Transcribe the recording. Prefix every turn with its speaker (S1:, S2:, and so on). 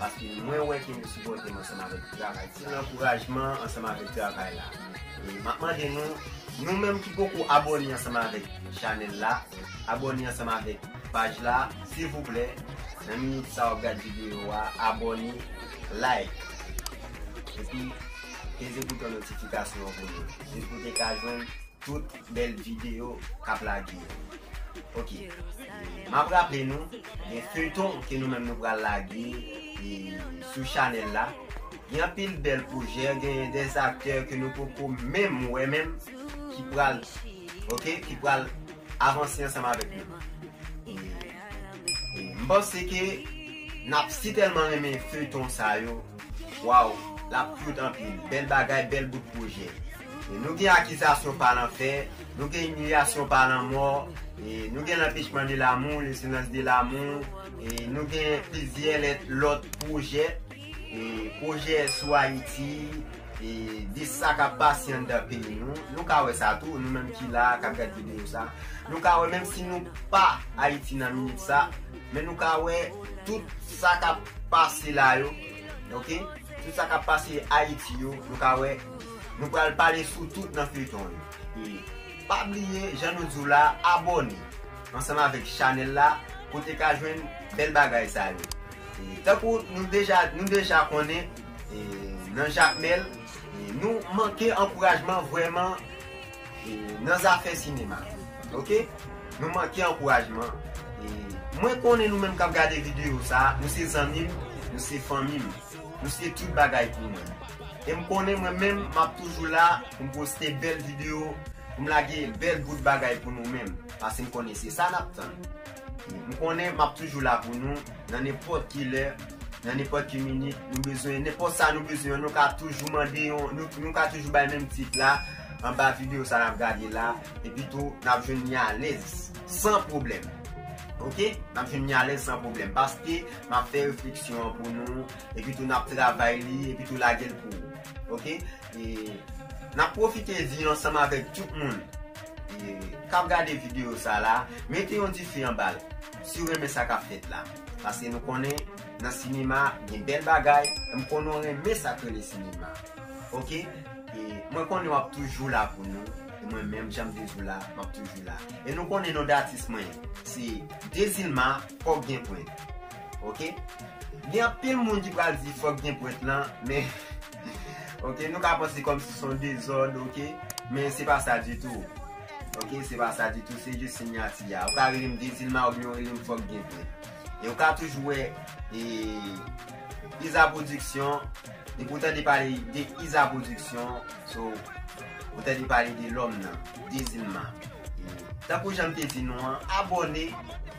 S1: Paske mwen wè ke nou sipòte m ansanm avèk travay sa. Se yon ankourajman ansanm avèk travay la. E map mande nou, nou menm ki poko abòne ansanm avèk chanèl la, abòne ansanm avèk paj la, silvouplè, nan minit sa wap gad videyo a, abòne, like, epi peze bouton notifikasyon an pou nou, jis pou te ka jwenn tout. Bel video kap lage yo. Ok map raple nou gen feyton ke nou menm nou pral lage sou chanel la. Gen anpil bel pwojè gen de aktè ke nou poko menm wè menm ki pral ok ki pral avanse ansanm avek nou. M panse ke nap si telman renmen feyton sa yo waw lap cute anpil bel bagay bel bout pwojè. Nou gen akizasyon pa lanfè, nou gen imilyasyon pa lanmò, nou gen lanpechman de lamou, le silans de lamou, nou gen plizyè lèt lòt pwojè, pwojè sou Ayiti, de sa kap pase anndan peyi nou, nou ka wè sa tou, nou menm ki la a kap gad videyo sa, nou ka wè menm si nou pa Ayiti nan minit sa, men nou ka wè tout sa kap pase la yo, ok, tout sa kap pase Ayiti yo, nou ka wè. Nou pral pale sou tout nan feyton yo e pa bliye jan nou diw la abone ansanm avèk chanèl la pou te ka jwenn bèl bagay sa yo e tankou nou deja nou deja konnen e nan jakmèl e nou manke ankourajman vrèman e nan zafè sinema ok nou manke ankourajman e mwen konnen nou menm kap gade videyo sa nou se zanmim nou se fanmim. Ou se tout bagay pou mwen. E m konnen mwen menm m ap toujou la pou m poste bèl videyo, pou m lage bèl bout bagay pou nou menm, paske m konnen se sa n ap tann. M konnen m ap toujou la pou nou, nan nenpòt ki lè, nan nenpòt ki minit, nou bezwen nenpòt sa nou bezwen an, nou ka toujou mande yon, nou ka toujou bay menm tit la, anba videyo sa n ap gade la, epi tou n ap jwenn ni alèz, san pwoblèm. Ok? N ap jwenn ni alèz san pwoblèm, paske. Map fè refleksyon an pou nou epi tou nap travay li epi tou lagel pou ou ok e nap profite vi ansanm avèk tout moun e kap gade video sa la mete yon dife anbal siw renmen sa kap fèt la paske nou konnen nan sinema gen bèl bagay em konnen ou renmen sak rele sinema ok e mwen konnen wap toujou la pou nou e mwen menm janm toujou la map toujou la e nou konnen non de atis mwen se dezilma. fòk gen pwent ok gen anpil moun ki pral di fòk gen pwent lan men ok nou ka panse kòm si son dezòd ok men se pa sa ditou ok se pa sa ditou se jis sinyati ya ou ka rele m dezilma ou byen ou rele m fòk gen pwent e ou ka toujou wè e iza pwodiksyon e pou tande pale de iza pwodiksyon so ou tande pale de lòm nan dezilma tankou jan m te di nou an abòne